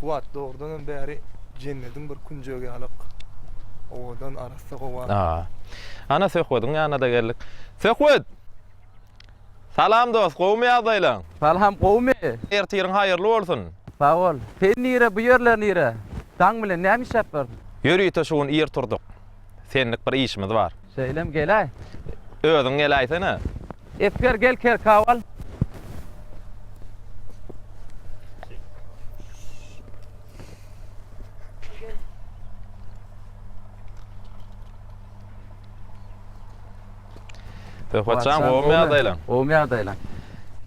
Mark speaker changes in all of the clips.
Speaker 1: Kuwwat dogrudan hem bäri jennediň bir künjegi ýalyk owadan arassa howa. Aa. Ana Söhbediň ýanyna-da geldik. Söhbet! Salam dost, gowumy ýagdaýlaň? Salam, gowumy? Ertiriň haýyrly bolsun! Sag bol. Sen nire, bu ýerler nire? Daň bilen näme işläp ýörüň? Ýörite şu gün ir turdyk. Senlik bir işimiz bar. Şeýlem geläý. Özüň geläýsene. Esger gel kerkaw al. Söhbetjan gowmy ýagdaýlaň? Gowmy ýagdaýlaň?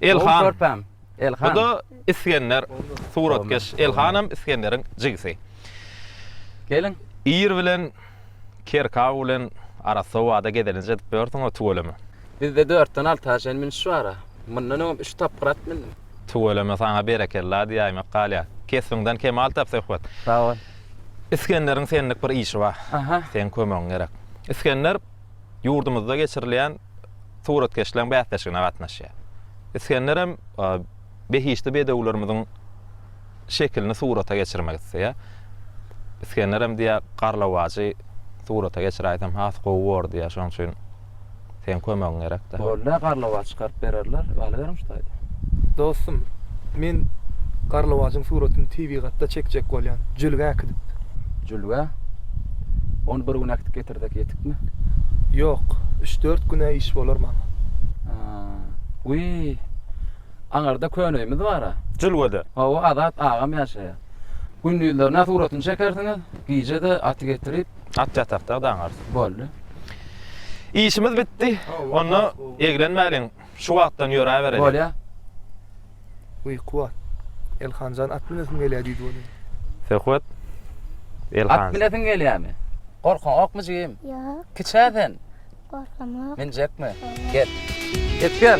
Speaker 1: Elhan. Gowmy körpäm? Bu da Isgender suratkeş Elhanam Isgenderiň jigisi. Geliň. Ir bilen Kerkaw bilen arassa obada gezelenç edip ýörsüňa tüweleme. Bizde dörtden alty aşyn münş bar-a. Mundan öňem üç tapgyr at mündüm. Tüweleme saňa berekella diýäýmek galýar. Kesbiňden kemal tap söhbet. Sag bol. Isgenderiň senlik bir işi bar. Aha. Seň kömegiň gerek. Isgender ýurdumyzda geçirilýän suratkeşleň bäsleşigine gatnaşýar. Isgenderem behişdi bedewlerimiziň şekilini surata geçirmek isleýär. Isgenderem diýýär, Garlawajy surata geçiräýsem has gowy bor diýýär, şonuň üçin seň kömegiň gerekdir. Bolýa, garlawaç çykaryp bererler, galyberiň şu taýda. Dostum, men garlawajyň suratyny tebigatda çekjek bolýan, jülgä äkidip. Jülgä? Ony bir gün äkidip getirip. Birdek ýetikmi? Ýok, üç-dört güne iş bolar maňa. Wiý. Aňyrda köne öýümiz bar-a. Jülgede? Hawa, Azat agam ýaşaýar. Gündizlerine suratyny çekersiňiz, gije-de aty getirip. At ýatakda daňarys. Boldy. Işimiz bitdi. Onda eglenmäliň. Şu wagtdan ýöräbereli. Bolýa. Uýky bar. Elhanjan at minesim gelýä diýdi welin. Söhbet Elhan. At minesiň gelýämi? Gorkaňokmy jigim? Ýok. Kiçä sen? Gorkamok. Minjekmi? Gel. Ýetip gel.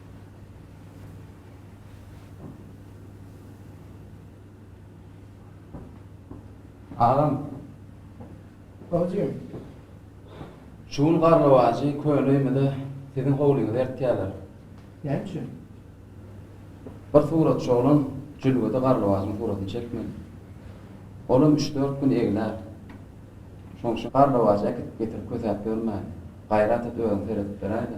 Speaker 1: Agam. Bajym. Şu gün garlawajy köne öýmede siziň howlyňyza ertýärler. Näme üçin? Bir suratçy oglan jülgede garlawajyň suratyny çekmeli. Olam üç-dört gün eglär. Şoň üçin garlawajy äkidip getirip kösäp ýörmäli. Gaýrat et özüň seredip beräýdä.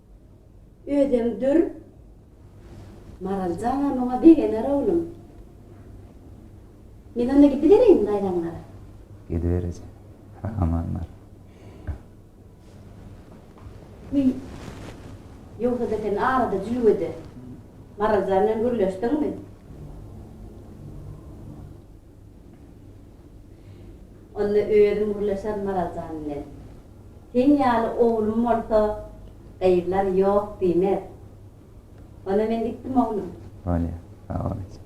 Speaker 1: Özem dür. Maral janam oňa begener oglum. Men onda gidibereýinmi daýzaňlara? Gidiber eje. Aman bar. Wiý. Ýogsa-da sen arada jülgede Maral jan bilen gürleşdiňmi? onda özüm gürleşer Maral jan bilen. Seň ýaly oglum bolsa, gyzlar ýok diýmez. Onda men gitdim oglum. Bolýa, sag bol eje.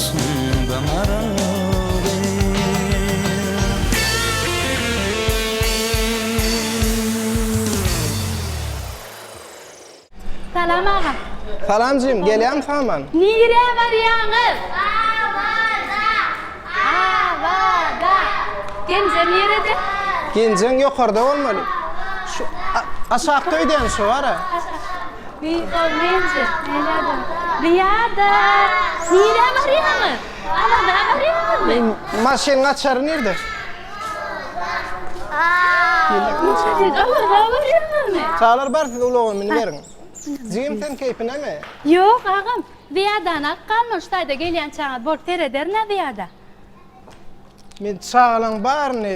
Speaker 1: Salam agam. Salam jigim gelýämi saman. Nirä barýaňyz? Awada. Awada. Genje nirede? Genjeň ýokarda bolmaly. Şu aşakda öýdämi şu wara. Beýikogly eje, nädäde? Diýada. Nirä barýaňyz? Alada barýaňyzmy? Maşyn açary nirde? Alada barýaňyzmy? Çagalar bar siz ulaga miniberiň. Jigim sen keýpinemi? Ýok agam, Diýadany alyp galman şu taýda gelýänçäňiz bolup serederin-ä Diýada. Men çagalaň baryny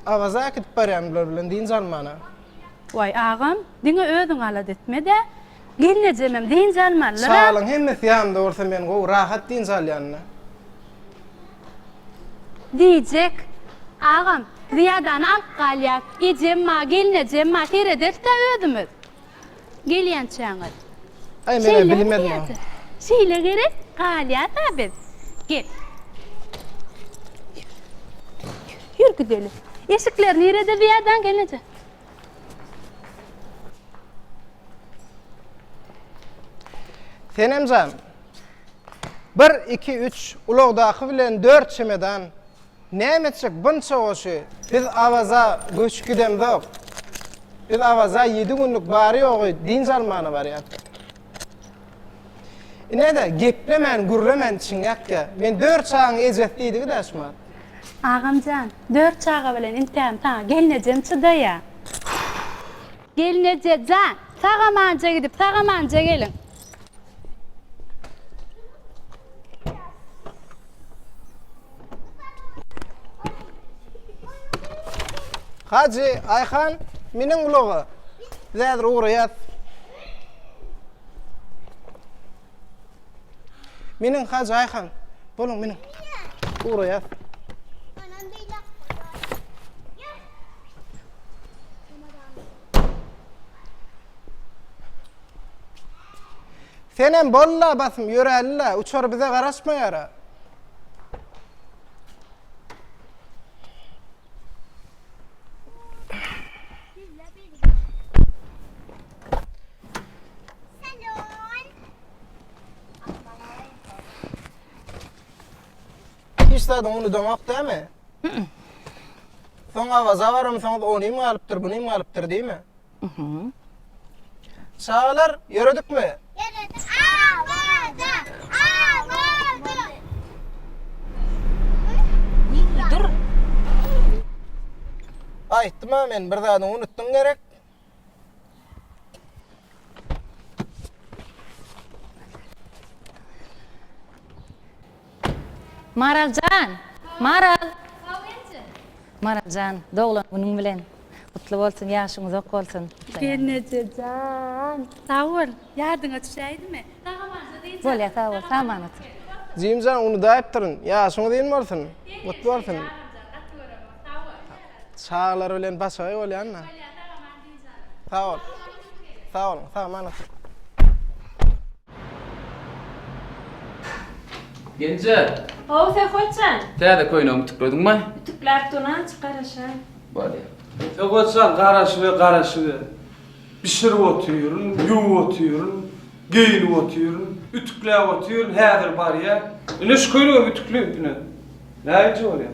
Speaker 1: Awaza äkidip barýan bular bilen dynç almana. Waý, agam, diňe özüň alat etme-dä. Gelnejemem dynç almalydyr-a. Şalyň hemmesi ýanynda bolsa men gowy, rahat dynç alýan-da. Diýjek, agam, Zyýadany alyp galýas. Ejem bar, gelnejem bar, serederis-dä özümiz. Gelýänçäňiz. Aý menä bilinmezmi o. Şeýle gerek galýasa biz. Gel. Ýür gidelim. Eşikler nirede bu ýerden gelneje. Senemjan. Bir, iki, üç, ulagdaky bilen dört çemedan. Näme etjek bunça goşy? Biz Awaza göçüp gidemzok. Biz Awaza ýedi günlük bary-ýogy dynç almana barýarys. Ine-de, geplemän, gürlemän içiň ýakýa. Men dört çagaň ejesi diýdigi daşman. Agam jan, dört çaga bilen intäm saňa gelnejem çydaýa. Gelneje jan, sagamanja gidip, sagamanja geliň. Hajy, Ayhan, miniň ulaga. Biz häzir ugraýas. Miniň Hajy, Ayhan. Boluň, miniň. Ugraýas. Senem bolla basym ýöräli-le, uçar bize garaşmaýar-a. Hiç zadyňy unudaňok dämi? Soň Awaza baramsoňyz onym galypdyr, bunym galypdyr diýme. Çagalar, ýöredikmi? Ýöredik. Awaza! Awaza! Dur. Aýtdym-a men, bir zadyňy unutdyň gerek. Maraljan! Maral! Maraljan, doglan günüň bilen. Gutly bolsun, ýaşyň uzak bolsun. Gelnejejan, sag bol. Ýadyňa düşäýdimi? Bolýa, sag bol. Saman otur. Jimjan, unudaýypdyryn. Ýaşyňyz ýyl bolsun. Gutly bolsun. Çagalar bilen başagaý bolýanda. Sag bol. Sag bol. Sag mana. Genje. Ho, Söhbetjan. Täze köýnegimi tüklediňmi? Tükläp durnan çykar aşa. Bolýar. Söhbetjan garaşyber, garaşyber. Bişirip otyryn, ýuwup otyryn, geýinip otyryn, ütükläp otyryn, häzir barýar. Ine şu köýnegimi ütükle ine. Näinje bolýar?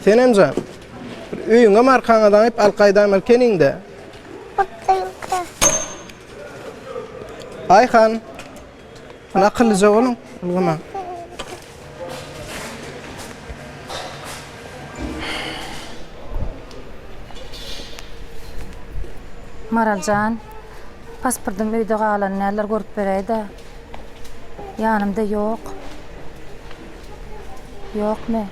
Speaker 1: Senemjan, öýüňem arkaňa daňyp al gaýdam erkeniňde. Bakdyňka. Aýhan, akyllyja boluň, ulgama. Maraljan, pasportym öýde galan, näler görüp beräýdä. Ýanymda ýok. Ýokmy?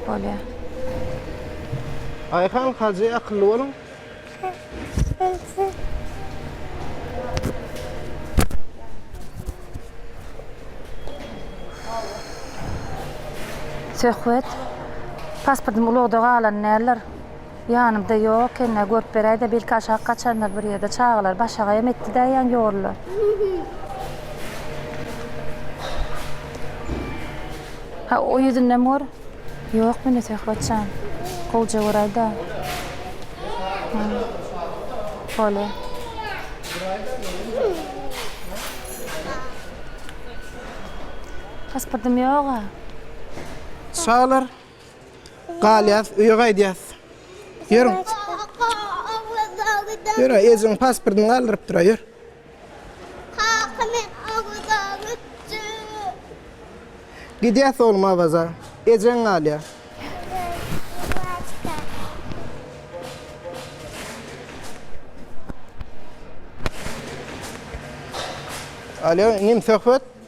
Speaker 1: Bolýar. Aýhan Hajy akylly boluň. Söhbet. Pasportym ulagda galan däldir. Ýanymda ýok ekeni-ä, görüp beräý-dä, belki aşak gaçandyr bir ýerde, çagalar başagaýam etdi-dä ýan ýorly. Ha, o ýüzündem gör. Ýok mende Söhbet jan. Gowja göräý-dä. Bolýa. Pasportym ýog-a. Çagalar, Galýas, öýe gaýdýas. Ýör. Ýör, ejiň pasportyny galdyrypdyr, ýör. Gidýäs oglum Awaza. Ejeň galýar. Alo, inim söhbet.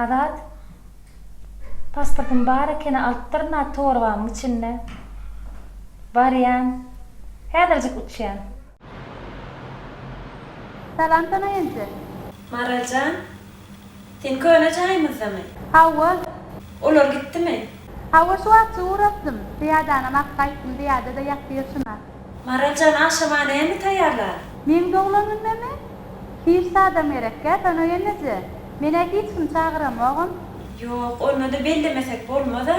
Speaker 1: Azat pasportym bar ekeni alypdyryn a torbamyň içinde. Barýan. Häzirjik uçýan. Salam sana enje. Maraljan, sen köne jaýymyzdamy? Hawa. Olar gitdimi? Hawa şu wagtja ugrapdym. Pyýadanam ak gaýtdym, pyýada-da ýatdyr şuna. Maraljan agşama näme taýýarlar? Meň doglan günüme-mi? Hiç zadam gerekgä sana eneje. Men-ä hiç kimi çagyramogam. Ýok, onda-da bellemesek bolmaz-a.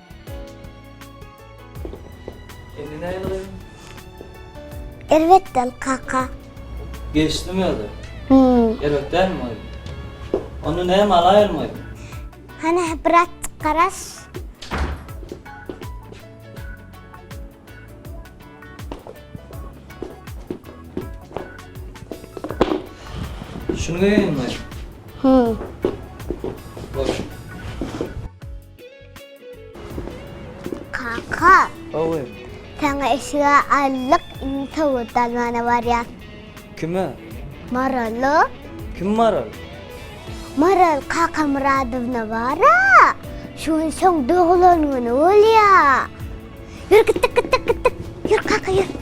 Speaker 1: Indi näýeli gyzym? Erbetden kaka. Geçdimi özi? Hum. Erbet dälmi gyzym? Onda näme alaýylmy gyzym? Hany bir atjyk garaş. Şuny geýeýinmi gyzym? Hum. Boş. Kaka. Owy. Sana eşige allyk indi towut almana barýan. Kime? Marala. Kim Maral? Maral kaka Muradowna bara. Şu gün şoň doglan güni bolýa. Ýür gitdik gitdik gitdik. Ýür kaka ýür.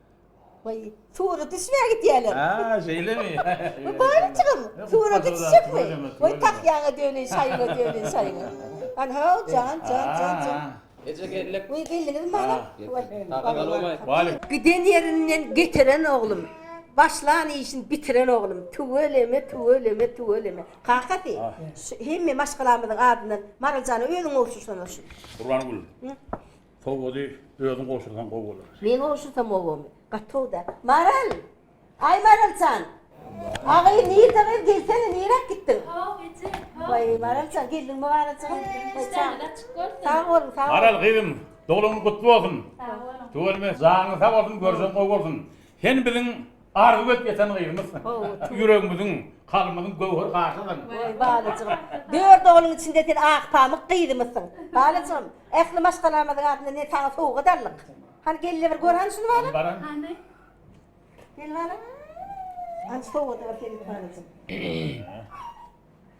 Speaker 1: Waý, surat düşmä gidýäler. Haa, şeýlemi? Bu baryjygam surata düşjekmi? Waý, tahýaňa döneýin, şaýyňa döneýin, şaýyňa. Anhaw, jan, jan, jan, jan. Eje, geldik. Waý, geldiňizmi balam? Waý. Giden ýerinden getiren oglum, başlan işin bitiren oglum, tüweleme, tüweleme, tüweleme. Kakasy, şu hemme maşgalamyzyň adyndan Maryljana özüň gowşursana şu. Gurbangül, Sowazy özüň gowşursaň gowy bolar. Men gowşursam obamy? Gaty gowy da. Maral! Aý Maraljan! Agyr nirde gyz gelsene niräk gitdiň? How eje how. Waý Maraljan geldiňmi Maraljan. Işdäniz açyk bolsun. Sag boluň sag boluň. Maral gyzym doglugyň gutly bolsun. Sag boluň. Tüweleme janyň sag bolsun görjegiň gowy bolsun. Sen biziň Arzuw edip ýeten gyzymyz. Ýüregimiziň, kalbymyzyň göwher gaşydyň. Oý, balyjygym. Dört ogluň içinde sen ak pamyk gyzymyzsyň. Balyjygym, ähli maşgalamyzyň adyndan ine saňa sowgat aldyk. Hany gel-le bir gör hany şuny balam. Baran. Hany. Gel balam. Hany şu sowgady gör seniňki balyjygym.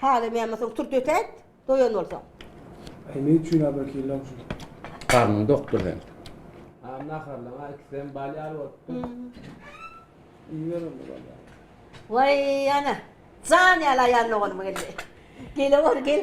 Speaker 1: Taze men bolsaň turt ötäýt, doýan bolsaň. Äý ne üçin abrakyllaň şu. Garnyň dokdur seň. Agam naharlaň a ikisi hem bal ýaly bolupdyr. Iýiber onda bal ýaly. Waý ana. Jan ýaly aýal doganymyň indi. Gele bor gel.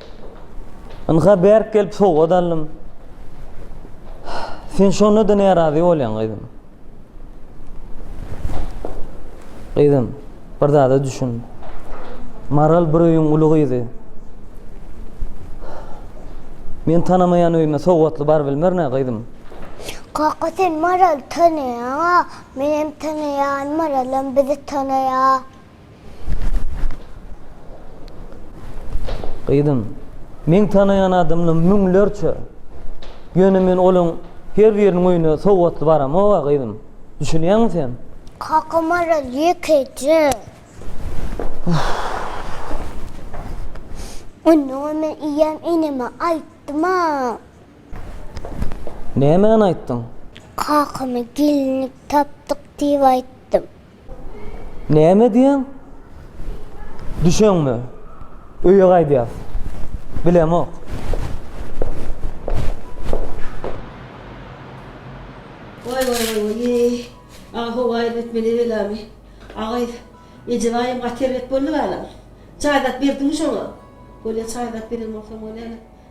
Speaker 1: Ynha bärk gelip sowgat aldym. Sen şonda-da närazy bolýaň, gyzym. Gyzym, bir zada düşün. Maral bir öýüň uly gyzy. Men tanamaýan öýüme sowgatly baryp bilmer ne, gyzym? Kaka, sen Maraly tanaýaň-a. Menem tanaýan, Maralam bizi tanaýar. Gyzym, meň tanaýan adamlarym müňlerçe. Ýöne men olaryň her biriniň öýüne sowgatly baramog-a, gyzym. Düşünýäňmi sen? Kaka Maral ýekeje. Onda-a men eýýäm eneme aýtdym-a. Nämäni aýtdyň? Kakama gelinlik tapdyk diýip aýtdym. Näme diýýäň? Düşeňmi? Öýe gaýdýas. Bilemok. Waý waý waý waý eý. Aý howaý etmeli belamy. Aý eje baýam gaty erbet boldy balam. Çaý zat berdiňmi şoňa? Bolýa çaý zat beren bolsam bolýa.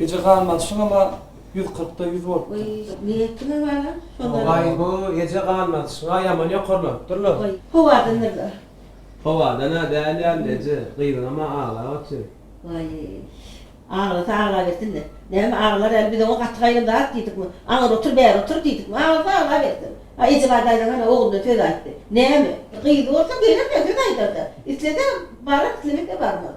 Speaker 1: Eje gan basşyňama ýüz kyrkda ýüz bolupdyr. Nä etdiňiz balam? Şonda. Waý bu eje gan basyşyňa ýaman ýokarlanypdyr la. Waý, howadandyr da. Howadan-a däl ýaly eje, gyzyňam-a aglap otyr. Waý, aglasa aglabersin-le. Näme aglar äli biz oňa gaty gaýran zat diýdikmi? Aňyr otur, bäri otur diýdikmi? Aglasa aglabersin. A eje bar daýzaň hany ogluna söz aýtdy. Näme? Gyzy bolsa geler-de söz aýdar-da. Islese barar, islemese barmaz.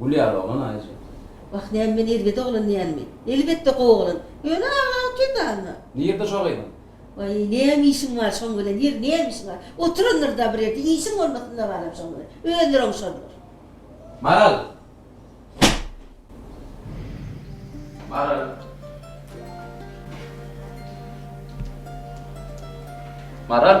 Speaker 1: Gülýär oglan aýja. Wah näme men erbet oglan diýenmi? Elbetde gowy oglan. Ýöne agaň kedaňa. Nirde şo gyzyň? Waý näme işiň bar şoň bilen ýeri näme işiň bar? Oturandyr-da bir ýerde işiň bolmasynda baram şoň bilen. Özleri oňşarlar. Maral! Maral! Maral!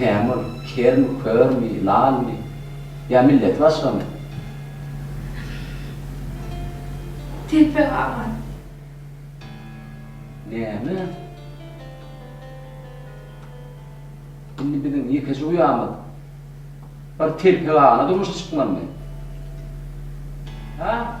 Speaker 1: Näme ol, kermi, körmi, lalmy? Ýa milleti başgamy? Telpek aman. Näme? Indi biziň ýekeje uýamyz bir Telpek agana durmuşa çykmalymy? Ha?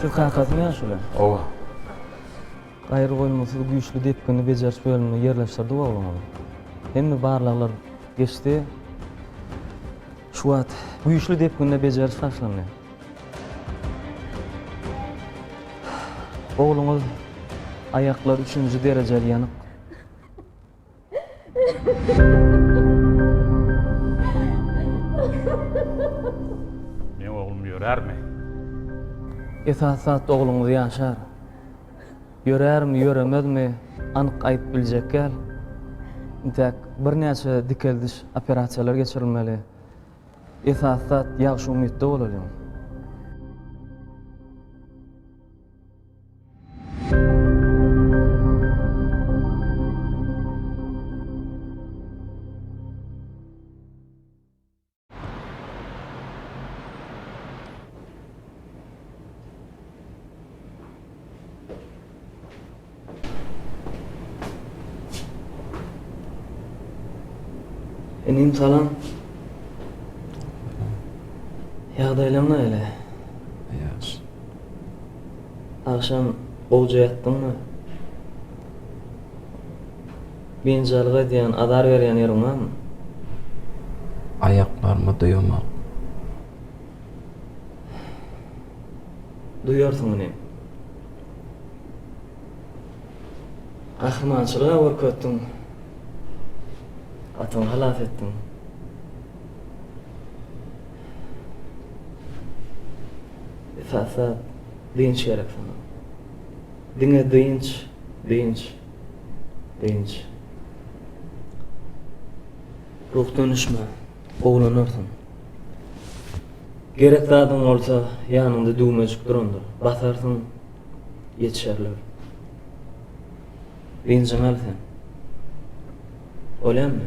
Speaker 1: Siz kakasymy ýa şuly? Owa. Gaýry goýma sizi güýçli depgini bejeriş bölümine ýerleşdirdik ogluňyzy. Hemme barlaglar geçdi. Şu wagt güýçli depginde bejeriş başlandy. Ogluňyz aýaklary üçünji derejeli ýanyk. Meň oglum ýörärmi? Esasy zat ogluňyz ýaşar. Ýörärmi, ýöremezmi anyk aýdyp biljek däl. Intäk birnäçe dikeldiş operasiýalar geçirilmeli. Esasy zat ýagşy umytda bolalyň. Inim salam. Ýagdaýlaň näle? Ýagşy. Agşam gowja ýatdyňmy? Binjalyk edýän, azar berýän ýeriň barmy? Aýaklaryma duýamok. Duýarsyň inim. Gahrymançylyga görkezdiň. Atyňy halas etdiň. Esasda dynç gerek saňa. Diňe dynç, dynç, dynç. Ruhdan düşme, gowulanarsyň. Gerek zadyň bolsa, ýanyňda düwmejik durandyr. Basarsyň, ýetişerler. Dynjyňy al sen. Bolýamy?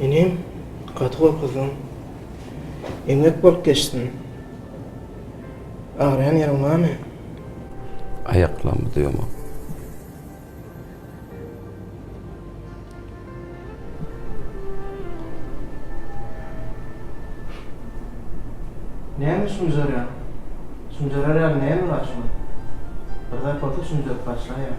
Speaker 1: Inim gaty gorkuzdym. Eňek bolup geçdim. Agyrýan ýeriň barmy? Aýaklarymda ýomam. Näme şumjarýaň? Şumjarar ýaly näme bar şuňa? Bir zat bolsa şumjaryp başlaýar.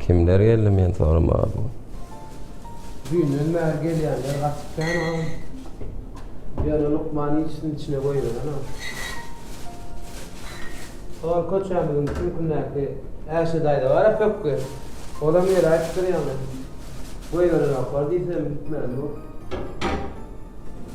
Speaker 1: Kimler geldi men soramaga bu. Düýnden bäri gelýänler gaty kän agam. Ýöne lukman işini içine goýberen agam. Ol köçämiziň süňkündäki Äşe daýza bar-a pökgi. Olam ýeri aýtdyr ýaňy. Goýberenoklar diýsem gitmändir ol.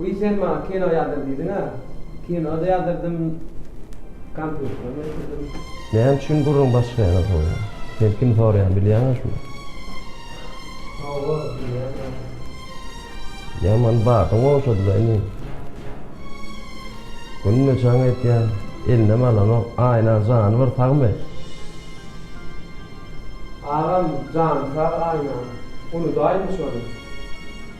Speaker 1: Wiý sen maňa kino ýazdyr diýdiňä, kino-da ýazdyrydym, kompýuteram getirdim. Näme üçin gürrüň başga ýana sowýaň? Sen kim soraýan bilýäňä şuny? Hawa, bilýärin. Ýaman badyň ogşady-la inim. Günde jaň edýän, elinem alanok, Aýna jany bir sagmy? Agam, jany sag Aýnanyň. Unudaýynmy şony?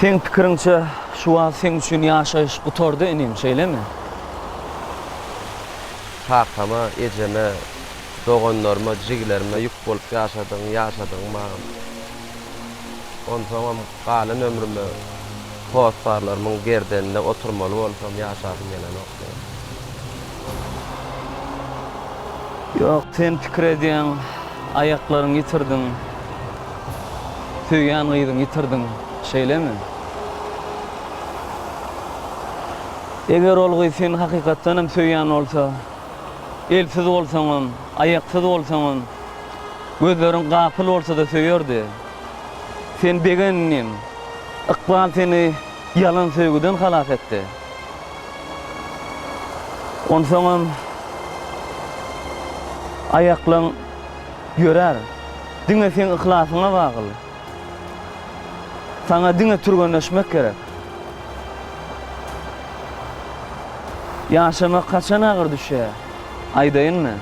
Speaker 1: Seň pikiriňçe, şu wagt sen üçin ýaşaýyş gutardy inim, şeýlemi? Kakama, ejeme, doganlaryma, jigilerime ýük bolup ýaşadygyň, ýaşadygyň maňa. Onsoňam Galan ömrüme hossarlarymyň gerdeninde oturmaly bolsam, ýaşasym gelenok, diýýär. Ýok, sen pikir edýäň, aýaklaryňy ýitirdiň, söýýän gyzyňy ýitirdiň, şeýlemi? Eger ol gyz seni hakykatdan hem söýýän bolsa, elsiz bolsaňam, aýaksyz bolsaňam, gözleriň gapyl bolsa-da söýerdi. Sen begendiň. Ykbal seni ýalan söýgüden halas etdi. Onsoňam aýaklaň ýörär. Diňe seň yhlasyňa bagly. Saňa diňe türgenleşmek gerek. Ýaşamak haçan agyr düşýär, aýdaýynmy?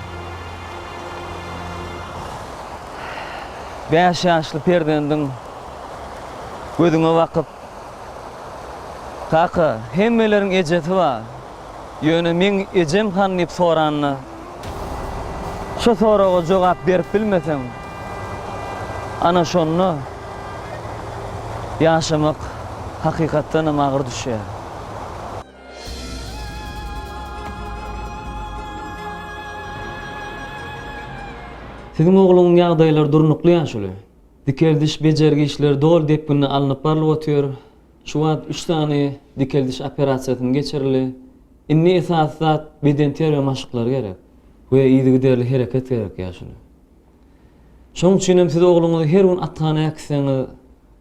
Speaker 1: bäş ýaşly perzendiň gözüňe bakyp, Kaka, hemmeleriň ejesi bar, ýöne meň ejem han diýip soranda, şo soraga jogap berip bilmeseň, ana şonda ýaşamak hakykatdanam agyr düşýär. Siziň ogluňyň ýagdaýlary durnukly ýaşuly. Dikeldiş, bejergi işleri doly depginde alnyp barlyp otyr. Şu wagt üç sany dikeldiş operasiýasyny geçirili. Indi esasy zat bedenterbiýe maşklary gerek we yzygiderli hereket gerek ýaşuly. Şoň üçinem siz ogluňyzy her gün athana äkitseňiz,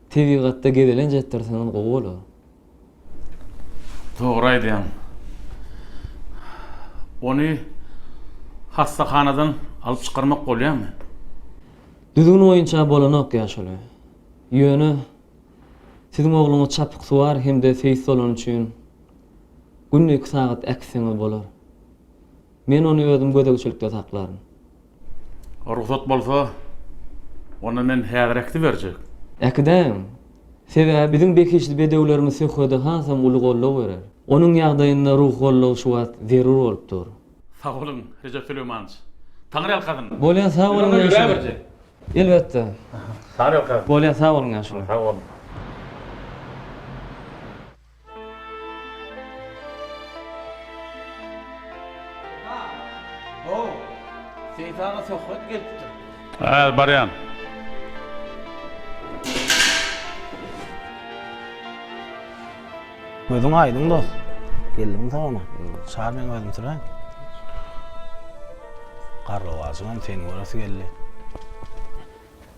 Speaker 1: tebigatda gezelenç etdirseňiz gowy bolar. Dogry aýdýaň. Ony hassahanadan alyp çykarmak bolýamy? Düzgün boýunça bolanok ýaşuly. Ýöne siziň ogluňyz çapyksuwar hem-de seýis bolany üçin günde iki sagat äkitseňiz bolar. Men ony özüm gözegçilikde saklaryn. Rugsat bolsa, onda men häzir äkidi berjek. Äkidäýiň. Sebäbi biziň behişdi bedewlerimiz söhbede hasam uly goldaw berer. Onuň ýagdaýynda ruhy goldaw şu wagt zerur bolup dur. Sag boluň, Rejep Süleýmanowiç. Taňryýalkasyn! Bolýa, sag boluň ýaşuly. Elbetde. Taňryýalkasyn! Bolýa, sag boluň ýaşuly. Sag boluň. Seýit aga söhbet gelipdir. Häzir barýan. Gözüň aýdyň dost. Geldiň sagama. Çar meň özüm sürän. Garlawajyňam seni göresi geldi.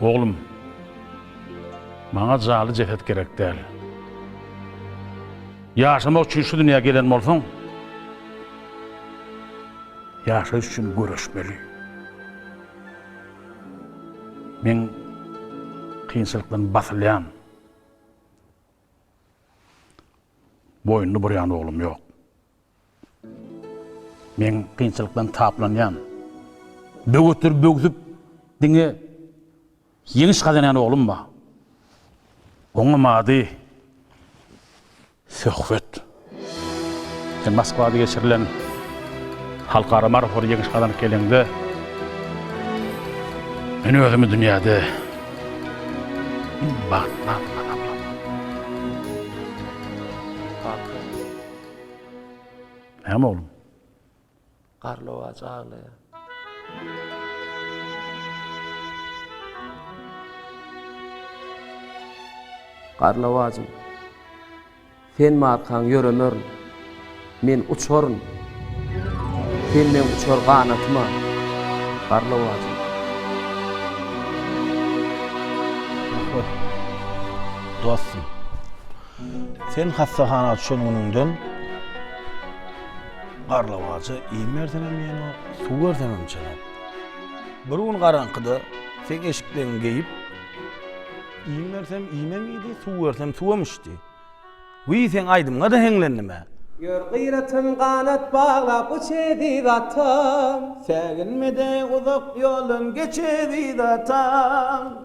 Speaker 1: Oglum, maňa jaly jeset gerek däl. Ýaşamak üçin şu dünýä gelen bolsaň, ýaşaýyş üçin göreşmeli. Men kynçylykdan basylýan, boýnuny burýan oglum ýok. Men kynçylykdan taplanýan, böwetleri böwsüp diňe ýeňiş gazanýan oglum bar. Oňam ady Söhbet. Sen Moskwada geçirilen halkara marafona ýeňiş gazanyp geleňde, men özümi dünýäde iň bagtly adam hasaplaryn. Näme oglum? Garlawajy aglaýar. Garlawajym, sen markaň ýöremerin. Men uçaryn. Sen meň uçar ganatyma, garlawajym. Dostum. Sen hassahana düşen günüňden garlawaja iým berseňem iýenok, suw berseňem içenok. Bir gün garaňkyda seň eşikleňi geýip, iým bersem iýmem iýdi, suw bersem suwam içdi. Wiý, seň aýdymyňa-da heňlendim-ä! Ýör gyratyn ganat baglap uç eziz atam. Säginme-de uzak ýoldan geç eziz atam.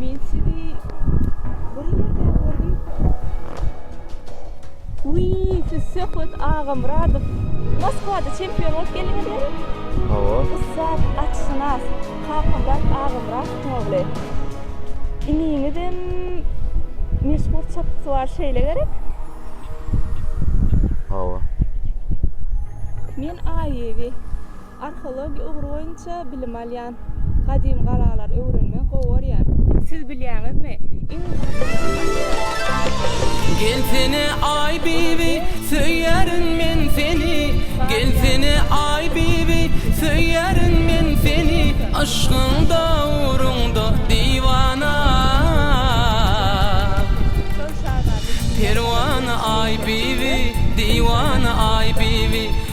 Speaker 1: Men sizi bir ýerde gördüm. Uy, siz Söhbet Agamyradow. Moskwada çempion bolup geldiňiz mi? Hawa. Ussat atşynas Kakamyrat Agamyradowyň ogly. Iniňizem meşhur çapykçy bar şeýle gerek? Hawa. Men Aýewi. Arheologiýa ugry boýunça bilim alýan. Gadym galalary öwrenmegi gowy görýän. Siz bilýäňizmi, iň Gelsene aý bibi, söýýärin men seni, Gelsene aý bibi, söýýärin men seni, Yşkyňda ugrunda diwana, Perwana aý bibi, diwana aý bibi.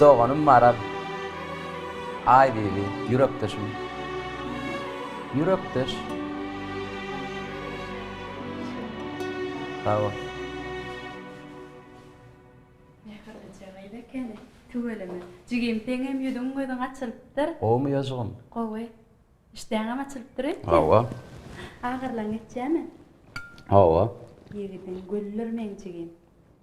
Speaker 1: Doganym Maral. Aýbibi, ýürekdeşim. Ýürekdeş. Sag bol. Mähirlice gyz ekeni. Tüweleme. Jigim seňem ýüzüň gözüň açylypdyr. Gowymy ýoşgum? Gowy. Işdäňem açylypdyr öýtdem. Hawa. Agyrlygyň geçýämi? Hawa. Ýigidiň güldir meň jigim.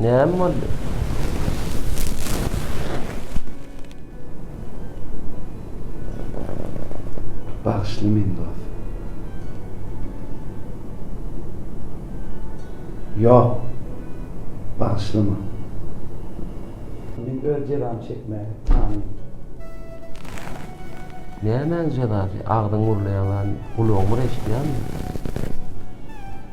Speaker 1: Näme boldy? Bagyşla meni dos. Ýok. Bagyşlama. Men öz jezamy çekmäge taýyn. Nämäň jezasy? Agzyň gürleýän zady gulagyňmyr eşidýänmi?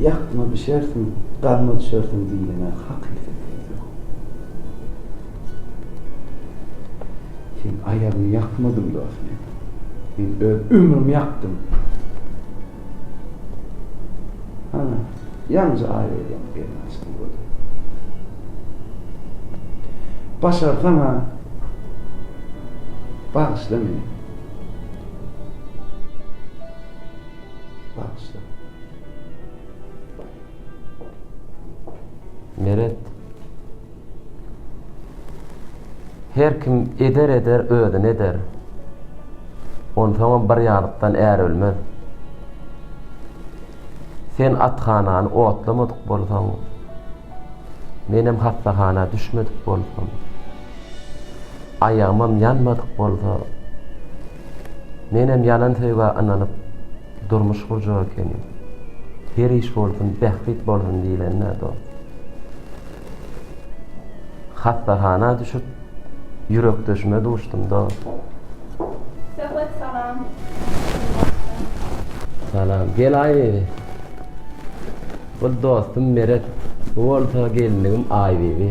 Speaker 1: Ýakma bişersiň, gazma düşersiň diýlene hakykat diýilýär. Sen aýagyňy ýakmadyň dos meniň. Men öz ömrümi ýakdym. Hana, ýaňja aý bolýar gelin açdy gözi. Başarsaň-a, bagyşla meni. Bagyşla. Meret. Her kim eder eder özüne eder. Onsoňam bir ýazykdan är ölmez. Sen athanany otlamadyk bolsaň, menem hassahana düşmedik bolsam. Aýagymam ýanmadyk bolsa, menem ýalan söýgä ynanyp, durmuş gurjak ekenim. Her iş bolsun, bähbit bolsun diýlende, dost. Hassahana düşüp, ýürekdeşime duşdum, dost. Söhbet salam. Salam. Gel-aý, bu dostum Meret, bu bolsa gelinligim Aýbibi.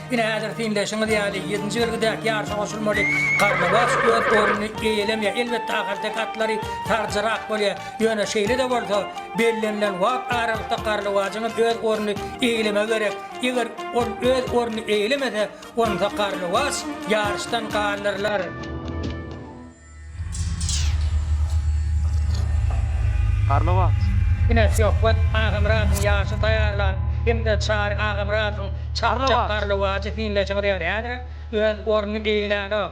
Speaker 1: Ine, häzir syndaşyňyz ýaly, ýedinji belgidäki ýaryşa goşulmaly Garlybaş öz ornuny eýelemýär. Elbetde, ahalteke atlary saljyrak bolýar. Ýöne şeýle-de bolsa, bellenilen wagt aralykda Garlybajyň hem öz ornuny eýelemegi gerek. Eger ol öz ornuny eýelemese, onda Garlybaş ýaryşdan galdyrylar. Garly wagt. Ine Söhbet Agamyradyň ýaşy taýýarlan hem-de Çary Agamyradyň çapjak garly wajy hiňlejiň ýaly häzir öz ornuny eýelänok.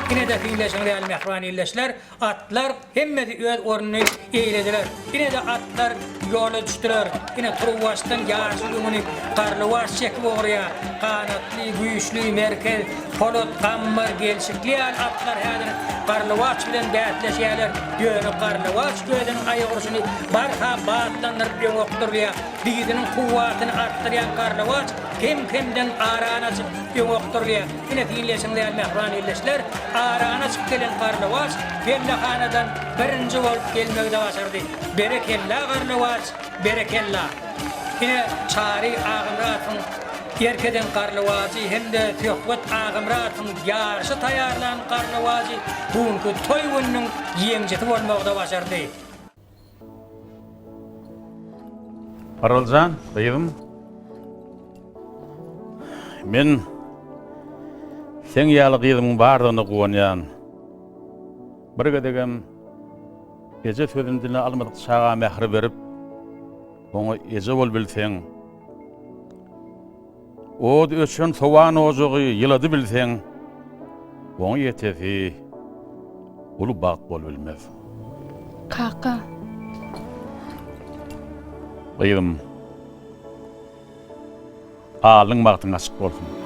Speaker 1: Ine-de fiňleşiňiz ýaly mähriban ildeşler, atlar hemmesi öz ornuny eýlediler. Ine-de atlar ýola düşdüler. Ine turuwbaşdan ýaşyl ýüňüni Garlybaş çekip ugraýar. Ganatly, güýçli, merkez, polat, gammar, gelşikli ýaly atlar häzir Garlybaş bilen bäsleşýärler. Ýöne Garlybaş gözüniň aýagurşuny barha batlandyryp öňe okdurylýar. Didiniň kuwwatyny artdyrýan Garlybaş kem-kemden arany açyp öňe okdurylýar. Ine, diňleýşiňiz ýaly, mähriban ildeşler, aradan çykyp gelen Garlawaç pellehanadan birinji bolup gelmegi-de başardy. Berekella, Garlawaç, berekella! Ine, Çary Agamyradowyň erk eden Garlawajy hem-de Söhbet Agamyradowyň ýaryşa taýýarlan Garlawajy bu günki toý gününiň ýeňijisi bolmagy-da başardy. Araljan, gyzym. Men seň ýaly gyzymyň bardygyna guwanýan. Bir gezegem eje sözüni diline almadyk çaga mähri berip, oňa eje bol bilseň. Ot öçen sowan ojagy ýyladybilseň, oňa ýetesi uly bagt bolubilmez. Kaka. Gyzym, alnyň bagtyň açyk bolsun.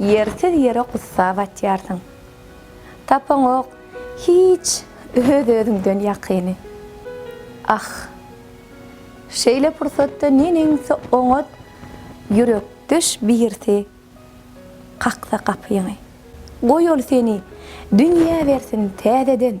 Speaker 1: Ýersiz ýere gussa batýarsyň. Tapaňok hiç öz-özüňden ýakyny. Ah! Şeýle pursatda neneňsi oňat ýürekdeş birisi kaksa gapyňy. Goý ol seni dünýä bersin täzeden.